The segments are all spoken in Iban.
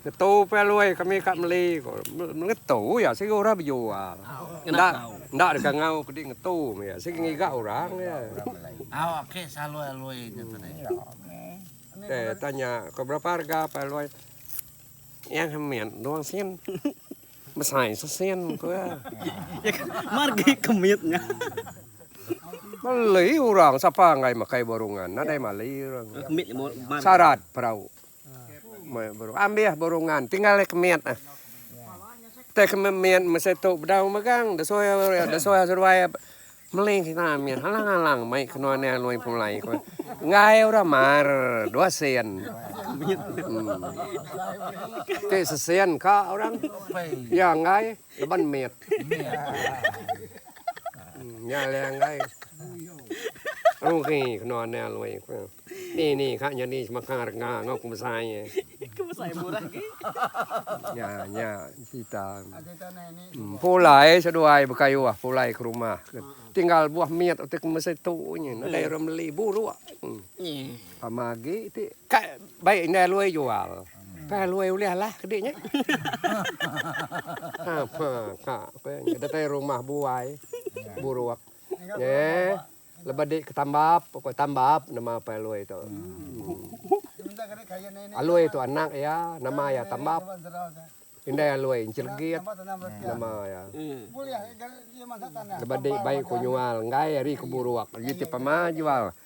Ngetu pia Lui kami ka meli ko. Ngetu iya sigi orang bejual. Enda enda deka ngau kudi ngetu mia sigi ngiga orang iya. Tei tanya ko berapa harga pia Lui. Yang kemit dua sen. Besai sesen ko iya. Margi kemit nya. Meli orang sapa enggai makai burung ngan nadai mali orang. Sarat perau. Ambih burungan tinggal ai kemit ah. Teh kemit mesti tu bedau megang desoi ai desoi seduai ai meli kena mih alang-alang mai ke nuan iya Lui Pulai ku enggai orang mar dua sen. Ti sesin ka orang iya enggai. Leban mit. Nya le enggai. Rugi kena anang lui ku. Ni ni ka nyadi semaka rengga enggau ku besai ye. Ku besai murah agi. Nya nya cerita. Pulai seduai bekayuh pulai ke rumah. Tinggal buah mit utai ke mesti tu nyin. Nadai orang meli buruk. Sama agi ti. Ka bai indai lui jual. Ka luai ulih alah kedi nya. Ha ha ka pe nya datai rumah buai buruk nya lebuh di ketambap ko tambap nama pai alui tu. Alui tu anak iya nama iya tambap. Indai alui encelegit nama iya. Lebuh di bai ko nyual enggai ari ko buruk uji ti pama jual.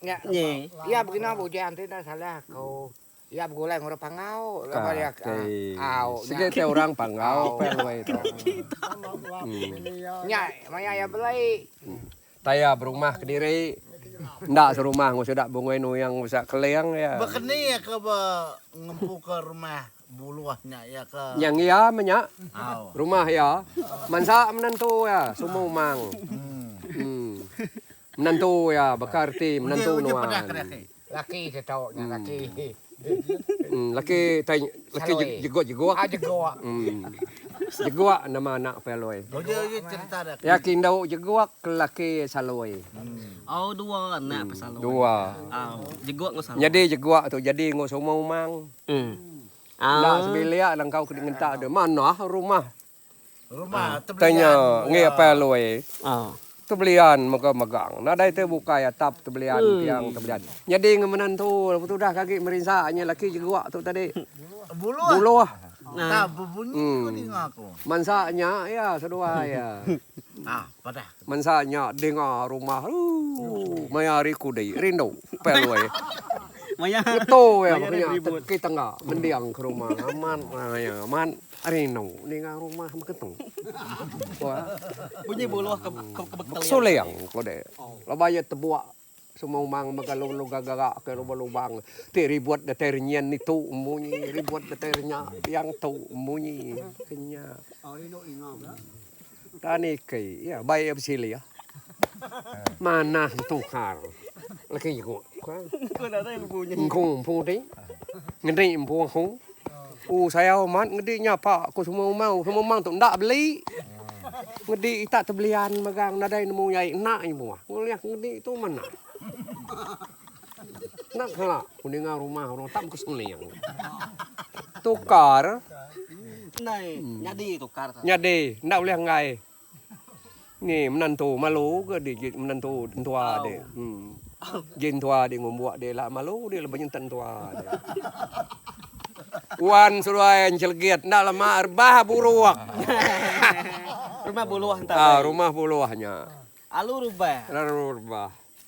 Nya nyi iya begina bujang ti enda salah aku. Iya begulai ngurau pangau laban iya ke au nya. Sigi ti orang pangau peh loi tu. Nya maya iya belai. Tang iya berumah kediri enda serumah enggau sida Bungui Nuyang Busak Keling iya. Bekeni iya ke be ngempu ke rumah Buluh nya iya ke. Nyang iya meh nya. Rumah iya mansa menentu iya Sumu Mang. Em. Menantu iya baka reti menantu nuan. Laki ti tu nya laki. Laki tai laki jeguk jeguk. Jeguk nama anak Apai Aloi. Iya ke indu jeguk ke laki Saloi. Au dua anak Apai Saloi. Dua. Au jeguk enggau Saloi. Nyadi jeguk tu jadi enggau seumah umang. Enda sebilik langkau ke di ngentak tu manah rumah. Tang nya ngi apai aloi tebelian mega megang nadai ti bukai atap tebelian tiang tebelian nyadi enggau menantu lalu tu udah ke agi merinsa nya laki jegua tu tadi buluh mansa nya iya seduai iya. Mensa nya dinga rumah ooh maya hari kudi rindu Pak Loi. Ngeto iya meh nya teki tangga mending ke rumah amat maya amat rindu ninga rumah meh ketu. Bunyi buluh ke ke bekeling. Bekesuling kudi laban iya tebuak Semua umang mega lalu gegerak ke lubang lubang ti ribut datai renyin nitu embu nyi ribut datai renya tiang tu embu nyi kenya. Tani ke iya bai iya besilih manah betukar laki ku. Engku empu ti ngeni empu aku. U sayau amat ngedi nya pa ko semua umang semua umang tu enda beli ngedi ita tu belian megang nadai nemu nyai enda nemu ulih ngedi tu mena enda kala ku ninga rumah orang tak baka seling tukar nyadi enda ulih enggai. Ni menantu malu ke di ji menantu entua di em ji entua di ngumbuk di la malu di lebuh nyentak entua di. Wan seduai njelegit enda la ma rebah buruk. Rumah buluh nya. Alu rebah.